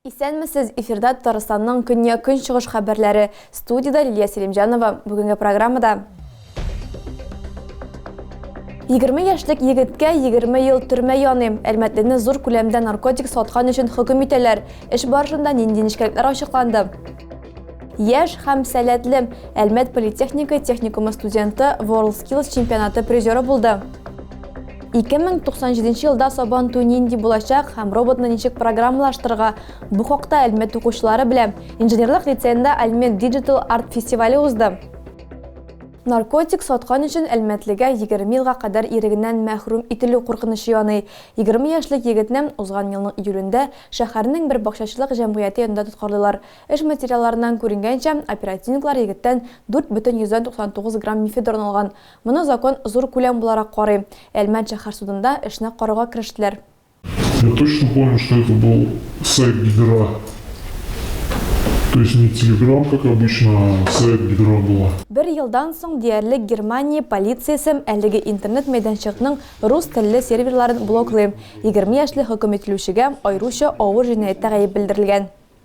Исәнмесез, эфирда Татарстанның көньяк-көнчыгыш хәбәрләре. Студиядә Лилия Селимҗанова. Бүгенге программада 20 яшьлек егеткә 20 ел төрмә яный. Әлмәтлене зур күләмдә наркотик саткан өчен хөкем итәләр. Эш барышында нинди нечкәлекләр ачыкланды? Яшь һәм сәләтле Әлмәт политехника техникумы студенты WorldSkills чемпионаты призеры булды. 2097 елда сабан туй нинди булачак һәм роботны ничек программалаштырырга? Бу хакта Әлмәт укучылары белә. Инженерлык лицейында Әлмәт Digital Art фестивале узды. Наркотик саткан өчен әлмәтлегә 20 елга кадәр ирегеннән мәхрүм ителү куркынычы яный. 20 яшьлек егетне узган елның июлендә шәһәрнең бер бакчачылык җәмгыяте янында тоткарлыйлар. Эш материалларыннан күренгәнчә, оперативниклар егеттән 4 бөтен йөздән 99 грамм мефедрон алган. Моны закон зур күләм буларак карый. Әлмәт шәһәр судында эшне карауга керештеләр. Я точно помню, что это был сайт Гидра. То есть не Телеграм, как обычно, а сайт Гидра была. Бер елдан соң диярлек Германия полициясем әлеге интернет мәйданчыкның рус телле серверларын блоклый. 20 яшьле хөкем ителүчегә айруча авыр җинаятьтә гаеп белдерелгән.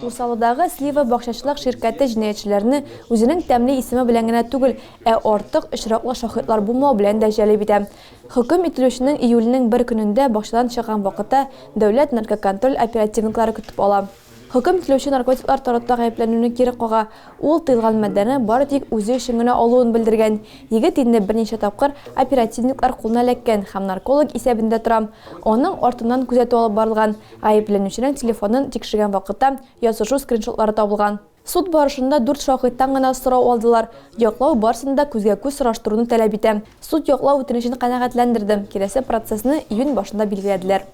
Усалыдагы Слива бакчачылык ширкәте җинаятьчеләрне үзенең тәмле исеме белән генә түгел, ә артык очраклы шаһитлар булмау белән дә җәлеп итә. Хөкем ителүченең июльнең бер көнендә бакчадан чыккан вакытта дәүләт наркоконтроль оперативниклары көтеп ала. Хөкем ителүче наркотиклар таратуда гаепләнүне кире кага, ул тыелган матдәне бары тик үзе өчен генә алуын белдергән. Егет инде берничә тапкыр оперативниклар кулына эләккән һәм нарколог исәбендә тора. Аның артыннан күзәтү алып барылган. Гаепләнүченең телефонын тикшергән вакытта язышу скриншотлары табылган. Суд барышында дүрт шаһиттан гына сорау алдылар. Яклау барысын да күзгә-күз сораштыруны таләп итә. Суд яклау үтенечен канәгатьләндерде, киләсе процессны июнь башында билгеләделәр.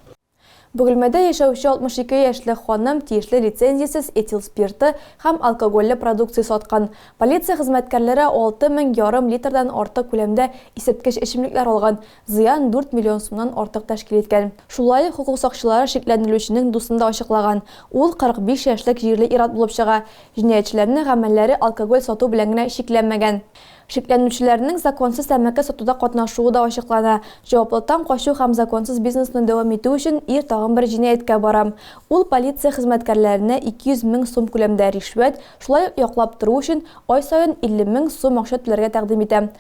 Бөгелмәдә яшәүче 62 яшьлек ханым тиешле лицензиясез этил спирты һәм алкогольле продукция саткан. Полиция хезмәткәрләре алты мең ярым литрдан артык күләмдә исерткеч эчемлекләр алган. Зыян дүрт миллион сумнан артык тәшкил иткән. Шулай ук хокук сакчылары шикләнелүченең дусын да ачыклаган. Ул 45 яшьлек җирле ир-ат булып чыга. Җинаятьчеләрнең гамәлләре алкоголь сату белән генә чикләнмәгән. Шикләнелүчеләрнең законсыз тәмәке сатуда катнашуы да ачыклана. Җаваплылыктан качу һәм законсыз бизнесны дәвам итү өчен ир тагын бер җинаятькә бара. Ул полиция хезмәткәрләренә 200 мең сум күләмдә ришвәт, шулай ук яклап тору өчен ай саен 50 мең сум акча түләргә тәкъдим итә.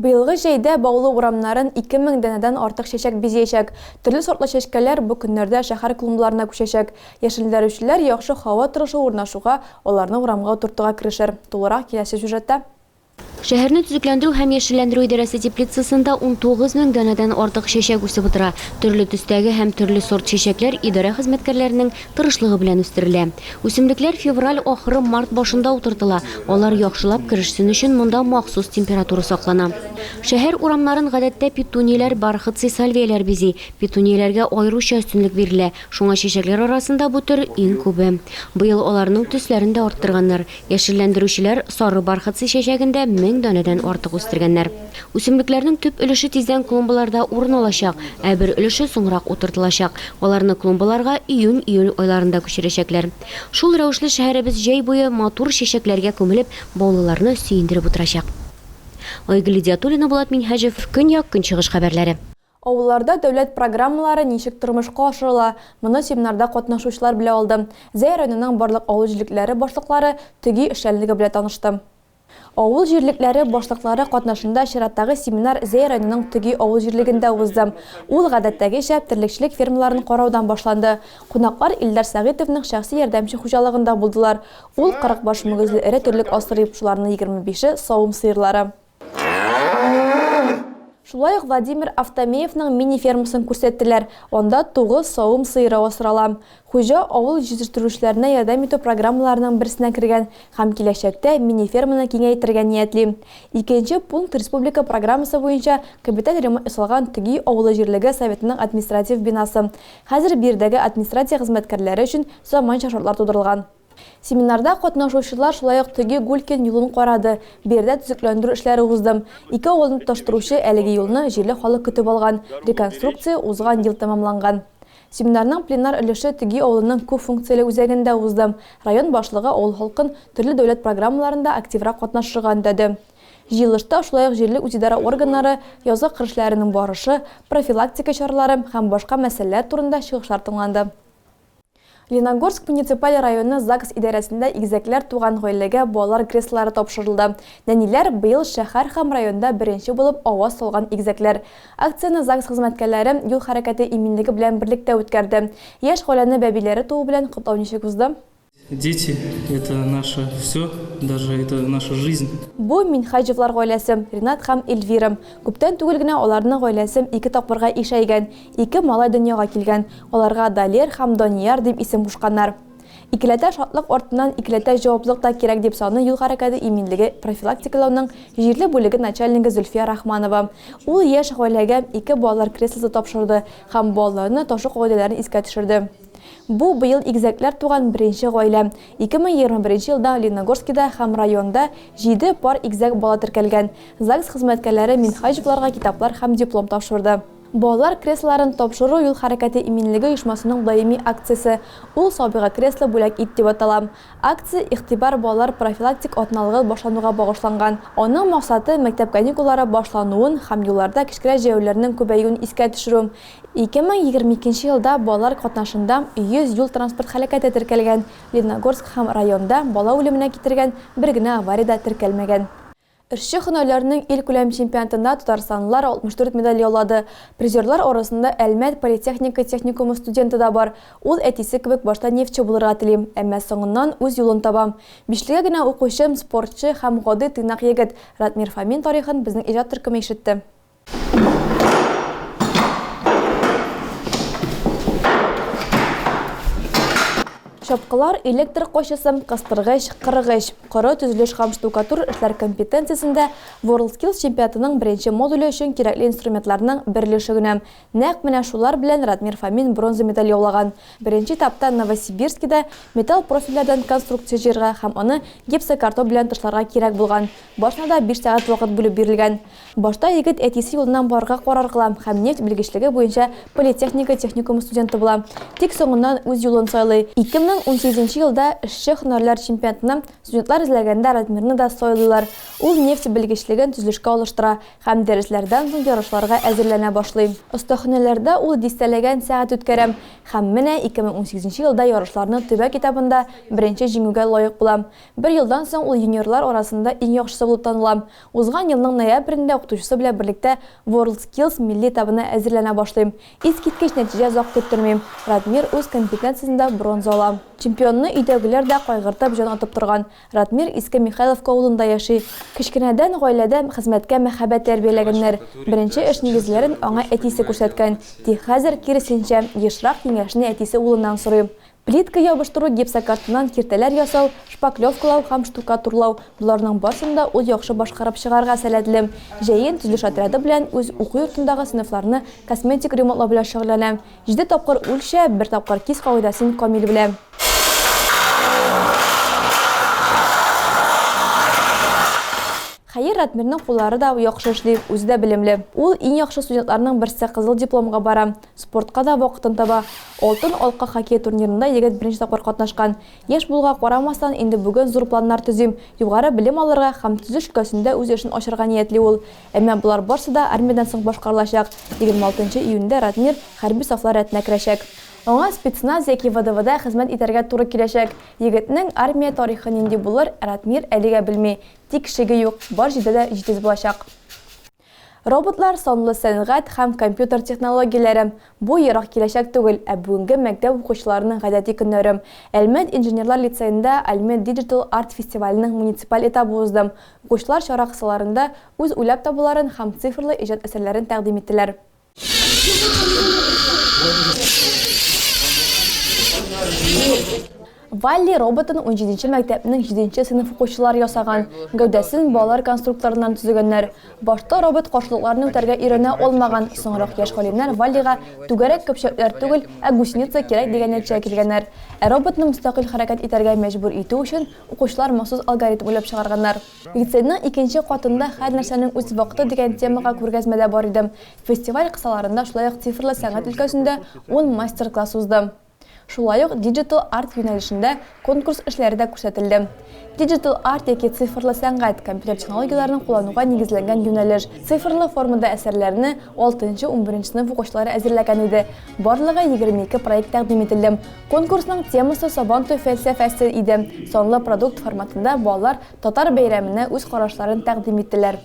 Быелгы җәйдә Баулы урамнарын 2000 данәдән артык чәчәк бизиячәк. Төрле сортлы чәчкәләр бу көннәрдә шәһәр клумбларына күчәчәк. Яшелләндерүчеләр яхшы һава торышы урнашуга, аларны урамга утыртуга керешер. Тулырак киләсе сюжетта. Шәһәрне төзекләндерү һәм яшелләндерү идарәсе теплицасында 19 мең данәдән артык чәчәк үсеп утыра. Төрле төстәге һәм төрле сорт чәчәкләр идарә хезмәткәрләренең, тырышлыгы белән үстерелә. Үсемлекләр февраль ахыры, март башында утыртыла, алар яхшылап керешсен өчен монда махсус температура саклана. Шәһәр урамнарын гадәттә петунияләр, бархатцы сальвияләр бизи. Петунияләргә аеруча өстенлек бирелә, шуңа чәчәкләр арасында бу төр иң күбе. Быел аларның төсләрен дә арттырганнар, Яшелләндерүчеләр сары бархатцы чәчәген дә мең данәдән артык үстергәннәр. Үсемлекләрнең төп өлеше тиздән клумбаларда урын алачак, ә бер өлеше соңрак утыртылачак. Аларны клумбаларга июнь-июль айларында күчерәчәкләр. Шул рәвешле шәһәребез җәй буе матур чәчәкләргә күмелеп, баулыларны сөендереп утырачак. Айгөл Идиатуллина, Булат Минһаҗев, Көньяк-Көнчыгыш хәбәрләре. Авылларда дәүләт программалары ничек тормышка ашырыла, моны семинарда катнашучылар белә алды. Зәй районының барлык авыл җирлекләре башлыклары төги эшчәнлеге белән танышты. Авыл җирлекләре башлыклары катнашында чираттагы семинар Зәй районының Төги авыл җирлегендә узды. Ул, гадәттәгечә, терлекчелек фермаларын караудан башланды. Кунаклар Илдар Сәгыйтовның шәхси ярдәмче хуҗалыгында булдылар. Ул, 40 баш мөгезле эре терлек асрый, шуларның егерме бише, савым сыерлары. Шулай ук Владимир Автомеевның мини-фермасын күрсәттеләр, анда тугыз савым сыеры асрала. Хуҗа авыл җитештерүчеләренә ярдәм итү программаларының берсенә кергән һәм киләчәктә мини-ферманы киңәйтергә ниятли. Икенче пункт республика программасы буенча капиталь ремонт ясалган Төгий авылы җирлеге Советының административ бинасы. Хәзер биредәге администрация хезмәткәрләре өчен заманча шартлар тудырылган. Семинарда катнашучылар шулай ук теге Гулькин юлын карады, бу йәрдә төзекләндерү эшләре узды. Ике авылны тоташтыручы әлеге юлны җирле халык көтеп алган, реконструкция узган ел тәмамланган. Семинарның пленар өлеше теге авылының күп функцияле үзәгендә узды. Район башлыгы авыл халкын төрле дәүләт программаларында активрак катнашырга өндәде. Җыелышта шулай ук җирле үзидарә органнары язгы кыр эшләренең барышы, профилактика чаралары һәм башка мәсьәләләр турында чыгышлар тыңланды. Леногорск муниципаль районы ЗАГС идарәсендә игезәкләр туган гаиләгә балалар креслолары тапшырылды. Нәниләр, быел шәһәр һәм районда беренче булып аваз салган игезәкләр. Акцияне ЗАГС хезмәткәрләре Юл хәрәкәте иминлеге белән берлектә үткәрде. Яшь гаиләне бәбиләре туу белән котлау ничек узды? Дети, это наше всё, даже это наша жизнь. Бу, Минһаҗевлар гаиләсе, Ринат һәм Эльвира. Күптән түгел генә аларның гаиләсе ике тапкырга ишәйгән. Ике малай дөньяга килгән. Аларга Далер һәм Данияр дип исем кушканнар. Икеләтә шатлык артыннан икеләтә җаваплылык та кирәк, дип саный юл хәрәкәте иминлеге профилактикалауның җирле бүлеге начальнигы Зөлфия Рахманова. Ул яшь гаиләгә ике балалар креслосы тапшырды һәм балаларны ташу кагыйдәләрен искә төшерде. Бу быел игезәкләр туган беренче гаилә. 2021 елда Лениногорскида һәм районда җиде пар игезәк бала теркәлгән. ЗАГС хезмәткәрләре Минһаҗевларга китаплар һәм диплом тапшырды. Балалар креслоларын тапшыру юл хәрәкәте иминлеге оешмасының даими акциясе Ул сабыйга кресло бүләк ит дип атала. Акция Игътибар балалар профилактик атналыгы башлануга багышланган. Аның максаты, мәктәп каникуллары башлануын һәм юлларда кечкенә җәяүләрнең күбәюен искә төшерү. 2022 елда балалар катнашында 100 юл-транспорт һәлакәте теркәлгән, Лениногорск һәм районда бала үлеменә китергән бер генә авария дә теркәлмәгән. Эрче һөнәрләрнең илкүләм чемпионатында татарстанлылар 64 медаль яулады. Призерлар арасында Әлмәт политехника техникумы студенты да бар. Ул әтисе кебек башта нефтьче булырга телим, әмма соңыннан үз юлын табам. Бишлегә генә укучым, спортчы һәм гади тыйнак егет Радмир Фомин тарихын безнең иҗат төркеме ишетте. Чапкылар, электр кочысы, кыстыргыч, кырыгыч, коры төзелеш һәм штукатур эшләр компетенциясендә WorldSkills чемпионатының беренче модуле өчен кирәкле инструментларның берлеше генә. Нәкъ менә шулар белән Радмир Фомин бронза медаль яулаган. Беренче этапта Новосибирскида металл профильләрдән конструкция җыярга һәм аны гипсокартон белән тышларга кирәк булган башына да биш сәгать вакыт бүлеп бирелгән. Башта егет әтисе юлыннан барырга карар кыла һәм нефть белгечлеге буенча политехника техникумы студенты була. Тик соңыннан үз юлын сайлый. 2018 нче елда эшче һөнәрләр чемпионатына студентлар эзләгәндә Радмирны да сайлыйлар. Ул нефть белгечлеген төзелешкә алыштыра һәм дәресләрдән соң ярышларга әзерләнә башлый. Остаханәләрдә ул дистәләгән сәгать үткәрә һәм менә 2018 нче елда ярышларның төбәк этабында беренче җиңүгә лаек була. Бер елдан соң ул юниорлар арасында иң яхшысы булып таныла. Узган елның ноябрендә укытучысы белән берлектә WorldSkills милли этабына әзерләнә башлыйм. Искиткеч нәтиҗә озак көттермим, Радмир үз компетенциясендә бронза ала. Чемпионны өйдәгеләр дә кайгыртып җан атып торган. Радмир Иске Михайловка авылында яши. Кечкенәдән гаиләдә хезмәткә мәхәббәт тәрбияләгәннәр. Беренче эш нигезләрен аңа әтисе күрсәткән. Тик хәзер, киресенчә, ешрак киңәшне әтисе улыннан сорый. Плитка ябыштыру, гипсокартоннан киртәләр ясау, шпаклевкалау һәм штукатурлау, боларның барсын да ул яхшы башкарып чыгарга сәләтле. Җәен төзелеш отряды белән үз уку йортындагы сыйныфларны косметик ремонтлау белән шөгыльләнә. Җиде тапкыр үлчә, бер тапкыр кис кагыйдәсен камил белә. Хәер, Ратмирның куллары да яхшы эшли, үзе дә белемле. Ул, иң яхшы студентларның берсе, кызыл дипломга бара. Спортка да вакытын таба. Алтын алка хоккей турнирында егет беренче тапкыр катнашкан. Яшь булуга карамастан, инде бүген зур планнар төзим, югары белем алырга һәм төзү өлкәсендә үз эшен ачарга ниятли ул. Әмма болар барсы да армиядән соң башкарылачак. 26 нчы июньдә Радмир хәрби сафлар рәтенә керәчәк. Аңа спецназ яки ВДВда хезмәт итәргә туры киләчәк. Егетнең армия тарихы нинди булыр, Радмир әлегә белми. Тик шеге юк, бар җирдә дә җитез булачак. Роботлар, санлы сәнгать һәм компьютер технологияләре, бу ерак киләчәк түгел, ә бүгенге мәктәп укучыларының гадәти көннәре. Әлмәт инженерлар лицеенда Әлмәт Digital Art фестиваленең муниципаль этабы узды. Укучылар чара кысаларында үз уйлап табуларын һәм цифрлы иҗат әсәрләрен тәкъдим иттеләр. Валли роботын 17-нче мәктәпнең 7-нче сыйныф укучылары ясаган. Гәүдәсен балалар конструкторыннан төзегәннәр. Башта робот каршылыкларны үтәргә өйрәнә алмаган, соңрак яшь галимнәр Валлига түгәрәк көпчәкләр түгел, ә гусеница кирәк дигән нәтиҗәгә килгәннәр. Ә роботны мөстәкыйль хәрәкәт итәргә мәҗбүр итү өчен укучылар махсус алгоритм уйлап чыгарганнар. Лицейның икенче катында Һәр нәрсәнең үз вакыты дигән темага күргәзмә дә бар иде. Фестиваль кысаларында шулай ук цифрлы сәнгать өлкәсендә ун мастер-класс узды. Шулай ук Digital Art юнәлешендә конкурс эшләре дә күрсәтелде. Digital Art яки цифрлы сәнгать, компьютер технологияләрен куллануга нигезләнгән юнәлеш. Цифрлы формада әсәрләрне алтынчы-унберенче сыйныф укучылары әзерләгән иде. Барлыгы егерме ике проект тәкъдим ителде. Конкурсның темасы Сабантуй фәлсәфәсе иде. Санлы продукт форматында балалар татар бәйрәменә үз карашларын тәкъдим иттеләр.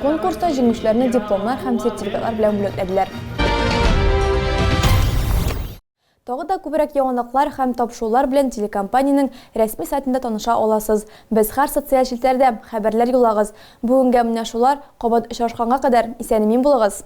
Конкурста җиңүчеләрне дипломнар һәм сертификатлар белән бүләкләделәр. Тагы да күбрәк яңалыклар һәм тапшырулар белән телекомпаниянең рәсми сайтында таныша аласыз. Без һәр социаль челтәрдә, хәбәрләр юллагыз. Бүгенгә менә шулар, кабат очрашканга кадәр, исән-имин булыгыз!